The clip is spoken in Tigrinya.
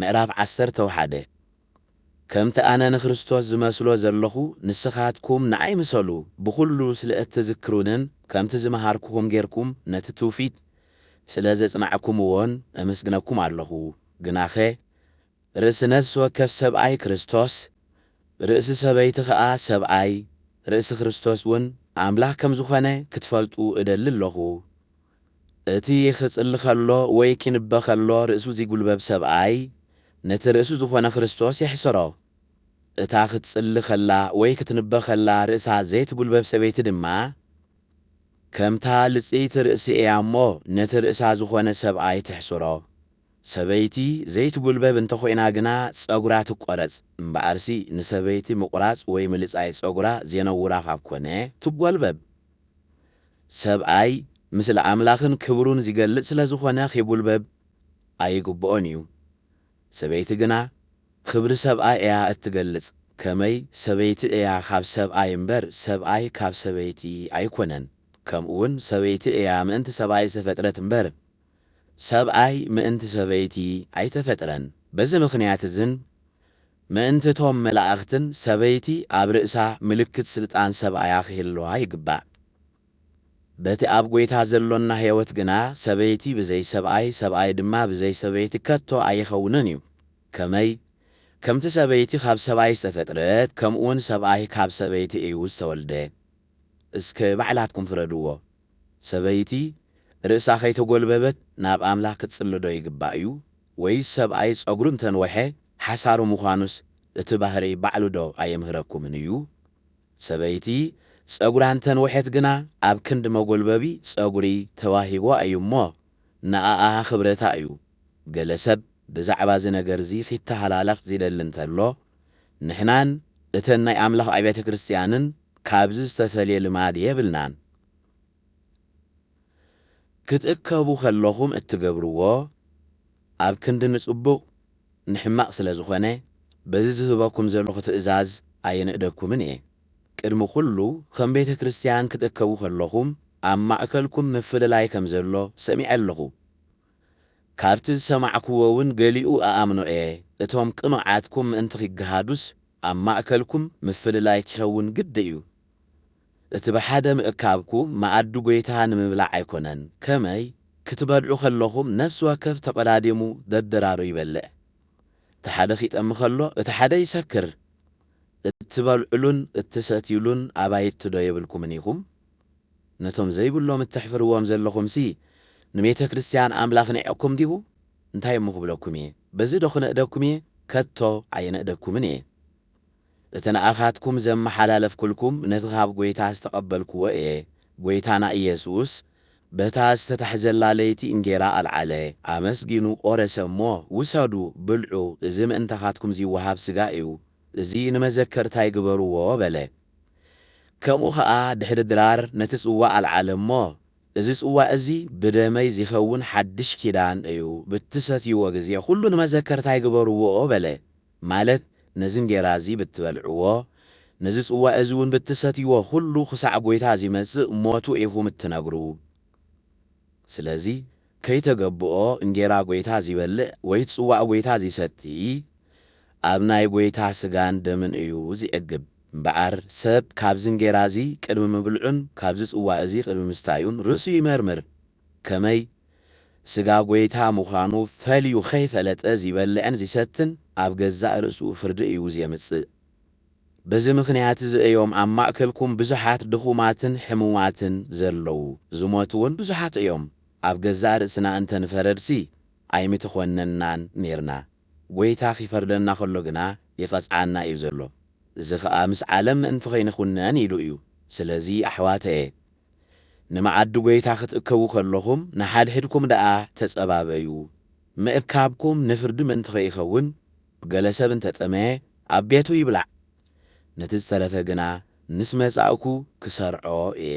ምዕራፍ ዓሰርተው ሓደ ከምቲ ኣነ ንክርስቶስ ዝመስሎ ዘሎኹ፣ ንስኻትኩም ንኣይ ምሰሉ፣ ብኹሉ ስለ እትዝክሩንን ከምቲ ዝመሃርኩኹም ጌርኩም ነቲ ትውፊት ስለ ዘጽናዕኩምዎን እምስግነኩም ኣሎኹ። ግናኸ ርእሲ ነፍሲ ወከፍ ሰብኣይ ክርስቶስ፣ ርእሲ ሰበይቲ ኸኣ ሰብኣይ፣ ርእሲ ክርስቶስውን ኣምላኽ ከም ዝኾነ ክትፈልጡ እደሊ ኣሎኹ። እቲ ኺጽሊ ኸሎ ወይ ኪንበ ኸሎ ርእሱ ዚጕልበብ ሰብኣይ፣ ነቲ ርእሱ ዝዀነ ክርስቶስ የሕስሮ። እታ ኽትጽሊ ኸላ ወይ ክትንበ ኸላ ርእሳ ዘይትጕልበብ ሰበይቲ ድማ፣ ከምታ ልጽይቲ ርእሲ እያ እሞ፣ ነቲ ርእሳ ዝዀነ ሰብኣይ ተሕስሮ። ሰበይቲ ዘይትጕልበብ እንተ ዀይና ግና፣ ጸጕራ ትቈረጽ። እምበኣርሲ ንሰበይቲ ምቝራጽ ወይ ምልጻይ ጸጕራ ዜነውራ ኻብ ኰነ፣ ትጐልበብ። ሰብኣይ ምስሊ ኣምላኽን ክብሩን ዚገልጽ ስለ ዝዀነ ኺጕልበብ ኣይግብኦን እዩ። ሰበይቲ ግና ኽብሪ ሰብኣይ እያ እትገልጽ፣ ከመይ ሰበይቲ እያ ኻብ ሰብኣይ እምበር፣ ሰብኣይ ካብ ሰበይቲ ኣይኰነን። ከምኡውን ሰበይቲ እያ ምእንቲ ሰብኣይ ዝተፈጥረት እምበር፣ ሰብኣይ ምእንቲ ሰበይቲ ኣይተፈጥረን። በዚ ምኽንያት እዝን፣ ምእንቲ እቶም መላእኽትን ሰበይቲ ኣብ ርእሳ ምልክት ስልጣን ሰብኣያ ኺህልዋ ይግባእ። በቲ ኣብ ጐይታ ዘሎና ህይወት ግና ሰበይቲ ብዘይ ሰብኣይ፣ ሰብኣይ ድማ ብዘይ ሰበይቲ ከቶ ኣይኸውንን እዩ። ከመይ? ከምቲ ሰበይቲ ኻብ ሰብኣይ ዝተፈጥረት፣ ከምኡውን ሰብኣይ ካብ ሰበይቲ እዩ ዝተወልደ። እስከ ባዕላትኩም ፍረድዎ። ሰበይቲ ርእሳ ከይተጎልበበት ናብ ኣምላኽ ክትጽልዶ ይግባእ'ዩ ወይስ ሰብኣይ ጸጉሩ እንተንወሐ ሓሳሩ ምዃኑስ እቲ ባህርይ ባዕሉዶ ኣየምህረኩምን እዩ? ሰበይቲ ጸጉራ እንተንወሐት ግና ኣብ ክንዲ መጎልበቢ ጸጉሪ ተዋሂቡዋ እዩ እሞ ንኣኣ ክብረታ እዩ። ገለ ሰብ ብዛዕባ እዚ ነገር'ዚ ኺተሃላለኽ ዚደሊ እንተሎ፣ ንሕናን እተን ናይ ኣምላኽ ኣብያተ ክርስትያንን ካብዚ ዝተፈልየ ልማድ የብልናን። ክትእከቡ ከለኹም እትገብርዎ ኣብ ክንዲ ንጽቡቕ ንሕማቕ ስለ ዝኾነ በዚ ዝህበኩም ዘለኹ ትእዛዝ ኣይንእደኩምን እየ። ቅድሚ ኩሉ ከም ቤተ ክርስትያን ክትእከቡ ከለኹም ኣብ ማእከልኩም ምፍልላይ ከም ዘሎ ሰሚዐ ኣለኹ። ካብቲ ዝሰማዕኩዎውን ገሊኡ እኣምኖ'የ፣ እቶም ቅኑዓትኩም ምእንቲ ኺገሃዱስ፣ ኣብ ማእከልኩም ምፍልላይ ኪኸውን ግድን'ዩ። እቲ ብሓደ ምእካብኩ፣ መኣዲ ጐይታ ንምብላዕ ኣይኰነን፣ ከመይ፣ ክትበልዑ ኸለኹም፣ ነፍሲ ወከፍ ተቘዳዲሙ ደደራሩ ይበልዕ። እቲ ሓደ ኺጠሚ ኸሎ፣ እቲ ሓደ ይሰክር። እትበልዑሉን እትሰትዩሉን ኣባይትዶ የብልኩምን ኢኹም? ነቶም ዘይብሎም እተሕፍርዎም ዘለኹምሲ፣ ንቤተ ክርስትያን ኣምላኽ ኒዕቅኩም ዲኹ? እንታይ እሞ ክብለኩም እየ? በዚዶ ኽንእደኩም እየ? ከቶ ኣየነእደኩምን እየ። እቲ ንኣኻትኩም ዘመሓላለፍኩልኩም፣ ነቲ ኻብ ጐይታ ዝተቐበልክዎ እየ፣ ጐይታና ኢየሱስ፣ በታ ዝተታሕዘላ ለይቲ እንጌራ ኣልዓለ፣ ኣመስጊኑ ቈረሰ እሞ፣ ውሰዱ፣ ብልዑ፣ እዚ ምእንታኻትኩም ዚወሃብ ስጋይ እዩ፣ እዚ ንመዘከርታይ ግበርዎ በለ። ከምኡ ኸኣ ድሕሪ ድራር ነቲ ጽዋእ ኣልዓለ እሞ፣ እዚ ጽዋእ እዚ ብደመይ ዚኸውን ሓድሽ ኪዳን እዩ፣ ብትሰትይዎ ጊዜ ዅሉ ንመዘከርታይ ግበርዎ በለ። ማለት ነዚ እንጌራ እዚ ብትበልዕዎ፣ ነዚ ጽዋእ እዚውን ብትሰትይዎ ዅሉ ኽሳዕ ጐይታ ዚመጽእ ሞቱ ኢኹም እትነግሩ። ስለዚ ከይተገብኦ እንጌራ ጐይታ ዚበልዕ ወይ ጽዋእ ጐይታ ዚሰቲ፣ ኣብ ናይ ጐይታ ስጋን ደምን እዩ ዚዕግብ። እምበኣር ሰብ ካብዚ እንጌራ እዚ ቅድሚ ምብልዑን ካብዚ ጽዋእ እዚ ቅድሚ ምስታዩን ርእሱ ይመርምር፣ ከመይ ስጋ ጐይታ ምዃኑ ፈልዩ ኸይፈለጠ ዚበልዕን ዚሰትን ኣብ ገዛእ ርእሱ ፍርዲ እዩ ዜምጽእ። በዚ ምኽንያት እዚ እዮም ኣብ ማእከልኩም ብዙሓት ድኹማትን ሕሙማትን ዘለዉ፣ ዝሞቱውን ብዙሓት እዮም። ኣብ ገዛእ ርእስና እንተ ንፈረድሲ ኣይምተዀነንናን ኔርና። ጐይታ ኺፈርደና ኸሎ ግና ይቐጽዓና እዩ ዘሎ፣ እዚ ኸኣ ምስ ዓለም ምእንቲ ኸይንዅነን ኢሉ እዩ። ስለዚ ኣሕዋተየ፣ ንመኣዲ ጐይታ ኽትእከቡ ኸለኹም፣ ንሓድሕድኩም ደኣ ተጸባበዩ። ምእካብኩም ንፍርዲ ምእንቲ ኸይኸውን፣ ገለ ሰብ እንተ ጠመየ፣ ኣብ ቤቱ ይብላዕ፣ ነቲ ዝተረፈ ግና ምስ መጻእኩ ክሰርዖ እየ።